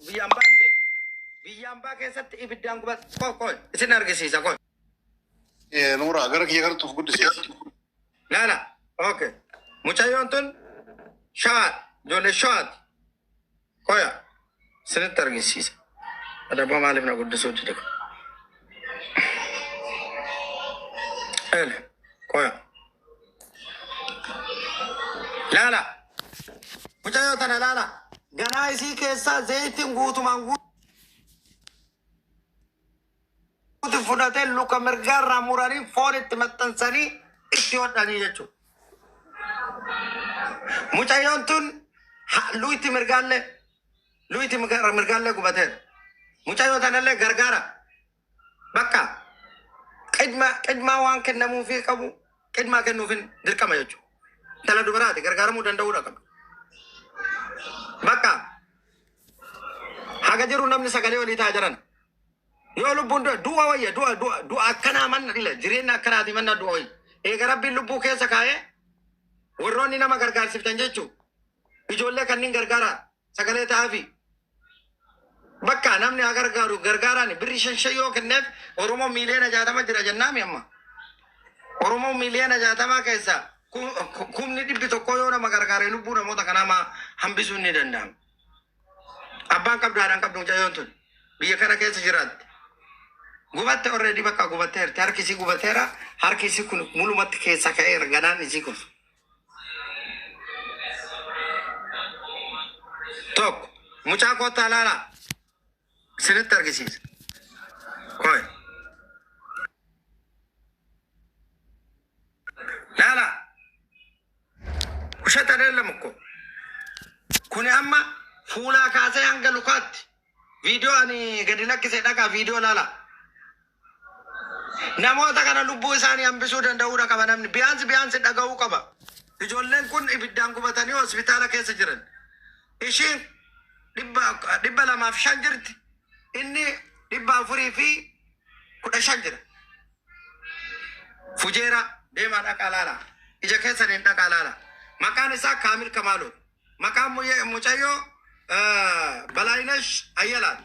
Biyyaan baan beeka. Biyyaan baa keessatti ibiddaan gubat koo koo isin argisiisa koo. Eh, Nuuraa gara kiyya kanatti of guddisiisa. Laala. Okay. Mucayyoon tun shawaat ijoollee shawaat koya isinitti argisiisa. Adabba maaliif na guddisuu dide kun? Ele koya. Laala. Mucayyoo tana laala. Garaa isii keessaa zayitiin guutumaan guutu fudhatee luka mirgaarraa muranii foon itti maxxansanii itti hodhanii jechuudha. Mucayyoon tun ha- luyti mirgaallee luyti mirga- mirgaallee gubateera. Mucayyoo tanallee gargaara. Bakka qidma qidmaa waan kennamuufii qabu qidmaa kennuufin dirqama jechuudha. Intala dubaraati gargaaramuu danda'uudha qabdu. Bakka haga jiru namni sagalee walii taa jiran. Yoo lubbuun du'a du'a wayya du'a du'a du'a akkanaa manna dhila jireenya akkanaati manna du'a wayya. Eega rabbiin lubbuu keessa kaa'ee warroonni nama gargaarsiftan jechuudha. Ijoollee kanniin gargaaraa. Sagalee ta'aafii. Bakka namni haa gargaaru gargaaraan birri shan shan yoo kenneef Oromoo miiliyoona jaatama jira jennaami amma. Oromoo miiliyoona jaatamaa keessaa kumni dhibbi tokkoo yoo nama gargaare lubbuu namoota kanaa maa hambisuun ni danda'ama. Abbaan qabdu haadhaan qabdu mucayyoon tun biyya kana keessa jiraatte. Gubatte orreedii bakka gubatteerti harki isii gubateera harki isii kun mulumatti keessa ka'eera ganaan isii kun. Tokko mucaa kottaa laalaa isinitti argisiisa. Koi. Laalaa. Ushata dheellam ko. Kuni amma fuulaa kaasee hanga lukaatti viidiyoo ani gadi lakkisee dhaqaa viidiyoo laalaa. Namoota kana lubbuu isaanii hambisuu danda'uudha qaba namni. Biyaansi biyaansi dhaga'uu qaba. Ijoolleen kun ibiddaan gubatanii hospitaala keessa jiran. Ishiin dhibba dhibba lamaaf shan jirti. Inni dhibba afurii fi kudha shan jira. Fujeera deemaa dhaqaa laala. Ija keessaniin dhaqaa laala. Maqaan isaa Kaamil Kamaaloo. Maqaan muyye- mucayyoo eh, Balaayinesh Ayyalaati.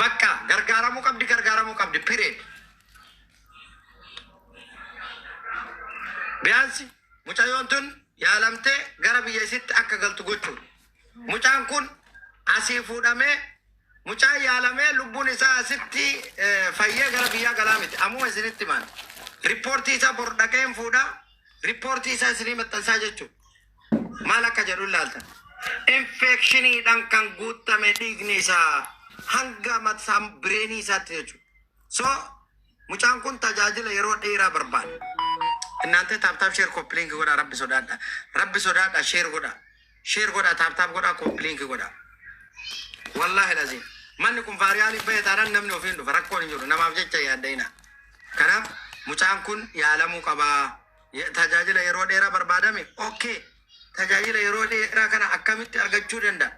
Bakka gargaaramuu qabdi gargaaramuu qabdi period. Biyaansi mucayyoon tun yaalamtee gara biyya isitti akka galtu gochuudha. Mucaan kun asii fuudhamee mucaan yaalamee lubbuun isaa asitti eh, fayyee gara biyyaa galaa miti. Amuma isinitti himaan. Riippoortii isaa bor dhaqeen fuudha. Riippoortii isaa isinii maxxansaa jechuudha. maal akka jedhu hin laaltan. Infeekshiniidhaan kan guuttame dhiigni isaa hanga mataan bireenii isaatti jechuudha. So mucaan kun tajaajila yeroo dheeraa barbaada. Innaantee taaptaap sheer koppiliinki godhaa rabbi sodaadha. Rabbi sodaadha sheer godhaa. Sheer godhaa taaptaap godhaa koppiliinki godhaa. Wallaahi laziim. Manni kun faariyaaliif bahe taanaan namni ofiin dhufa rakkoon hin jiru namaaf jecha yaadda'ina. Kanaaf mucaan kun yaalamuu qabaa. Ye- Tajaajila yeroo dheeraa barbaadame. Ok. Tajaajila yeroo dheeraa kana akkamitti argachuu danda'a?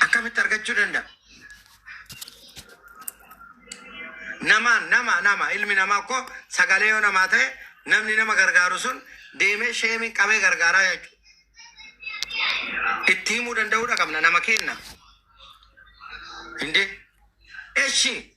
Akkamitti argachuu danda'a? Nama nama nama ilmi namaa koo sagalee yoo namaa ta'e namni nama gargaaru sun deemee sheemiin qabee gargaaraa jechuudha. Itti himuu danda'uudha qabna nama kenna. Indee. Eshi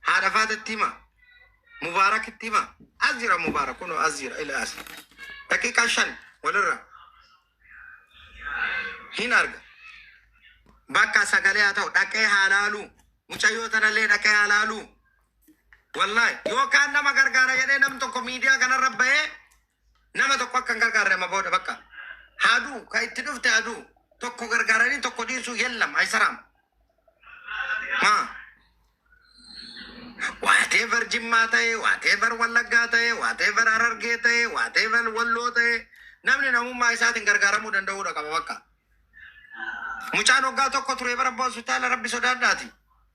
Haadha faatatti hima. Mubaarakitti hima. As jira Mubaarak kunoo as jira ila as. Daqiiqaa shan walirra hin arga. Bakka sagalee haa ta'u dhaqee haa laaluu. Mucayyoo tanallee dhaqee haa laaluu. Wallahi yookaan nama gargaara jedhee nam tokko miidiyaa kanarra bahee Nama tokko akka hin gargaarre amma booda bakka. Haa du'u, ka itti dhufte haa du'u. Tokko gargaaranii tokko dhiisuu yellam, ayisaraam. Maa. Whatever Jimmaa ta'e, whatever Wallaggaa ta'e, whatever Harargee ta'e, whatever Walloo ta'e, namni namummaa isaatiin gargaaramuu danda'uudha qaba bakka. Mucaan waggaa tokko ture bara abbaa hospitaala rabbi sodaadhaati.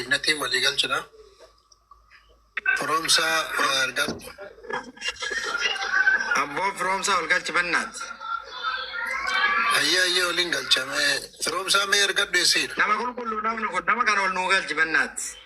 Ibnatiin walii galchina. Firoomsaa wal galchi. Abboo firoomsaa wal galchi bannaat. Ayyee ayyee waliin galchame. Firoomsaa mee ergadhu isiidha. Nama qulqulluu namni kun nama kana wal nuu galchi bannaat.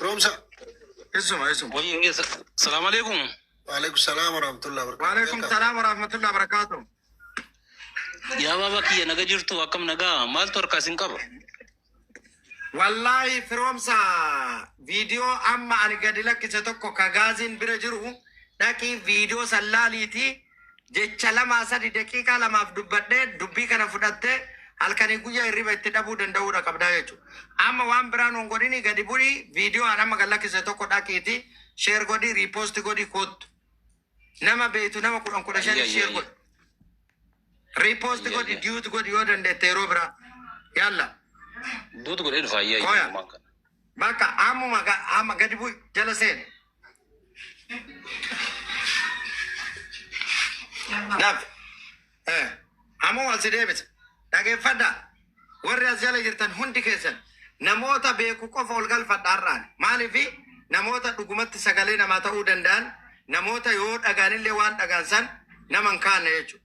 Roomsa. Isuma isuma. Wayii hin geessa. Salaamu alaikum. Waalaikum salaam wa rahmatullahi wa barakatuh. Waalaikum salaam wa rahmatullahi wa barakatuh. Yaa baaba kiyya naga jirtu akkam nagaa maaltu harkaa isin qaba? Wallaahi firoomsa viidiyoo amma ani gadi lakkise tokko ka gaaziin bira jiru dhaqii viidiyoo san laaliitii Jecha lamaa sadi daqiiqaa lamaaf dubbadhee dubbii kana fudhattee halkanii guyyaa hirriba itti dhabuu danda'uudha qabdaa jechuudha. Amma waan biraa nuun godhini gadi bu'ii viidiyoo aan amma gad lakkise tokko dhaqiiti sheer godhi riipoosti godhi koottu. Nama beektu nama kudhan kudha shanii Ayya, sheer ayya, godhi. Riipoosti Ayya, godhi ayya. diyuuti godhi yoo dandeette yeroo biraa. Yalla. Duutu godhee dhufa ayyaa Koya. iyyummaan kana. Bakka ammuma ga- amma gadi bu'i jala seeni. Daf. Eh, Ammoo asi deebisa. Dhageeffadha. Warri as jala jirtan hundi keessan namoota beeku qofa ol galfadha har'aan. Maaliif namoota dhugumatti sagalee namaa ta'uu danda'an namoota yoo dhagaanillee waan dhagaan san nama hin kaanne jechuudha.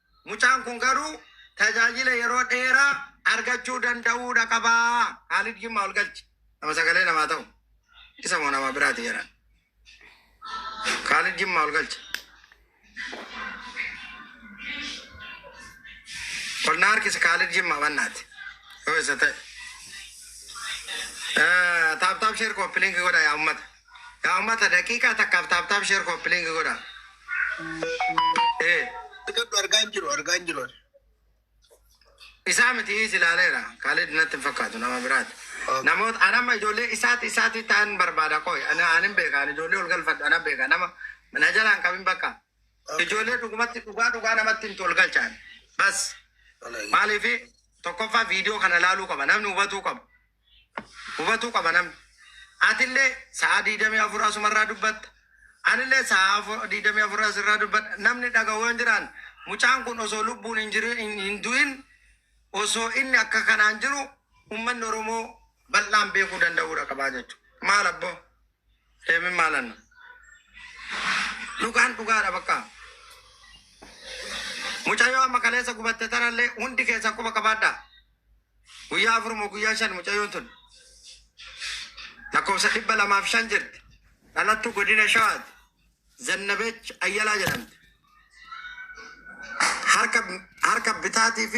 Mucaan kun garuu tajaajila yeroo dheeraa argachuu danda'uudha qaba. Kaalid Jimmaa ol galchi. Nama sagalee namaa ta'u. Isa moo nama biraati jedhan. Kaalid Jimmaa ol galchi. Ol na harkisi Kaalid Jimmaa bannaati. Yoo isa ta'e. Taaptaap sheer kooppi liinki godha yaa ummata. Yaa ummata daqiiqaa takkaaf taap taap sheer koppiliingi godha. Ee. Argadhu argaa hin jiru argaa hin jiru. Isaa miti is ilaaleera. Kaalid natti hin fakkaatu nama biraati. Okay. Namoota an amma ijoollee isaati isaati ta'an barbaada qoy. Ana an hin beeka an ijoollee ol galfadhu ana beeka nama na jalaan qabin bakka. Okay. Ijoollee dhugumatti dhugaa dhugaa namatti hin tol galchaan. Bas Wallahi. maaliif tokkoffaa viidiyoo kana ilaaluu qaba namni hubatuu qaba. Hubatuu qaba namni. Atillee sa'aa 24 asuma irraa dubbatta. Anillee sa'aa 24 as irraa dubbadha. Namni dhagahu yoo hin jiraan mucaan kun osoo lubbuun hin jiru hin du'in osoo inni akka kanaan jiru ummanni Oromoo bal'aan beekuu danda'uudha qabaa jechuudha. Maal abboo? Deemin maalan dhugaan dhugaadha bakka mucayyoo amma kaleessa gubatte tanallee hundi keessan quba qabaadha guyyaa afur moo guyyaa shan mucayyoon tun lakkoofsa dhibba lamaaf shan jirti dhalattuu godina shawaati zannabech ayyalaa jedhamti harka harka bitaatii fi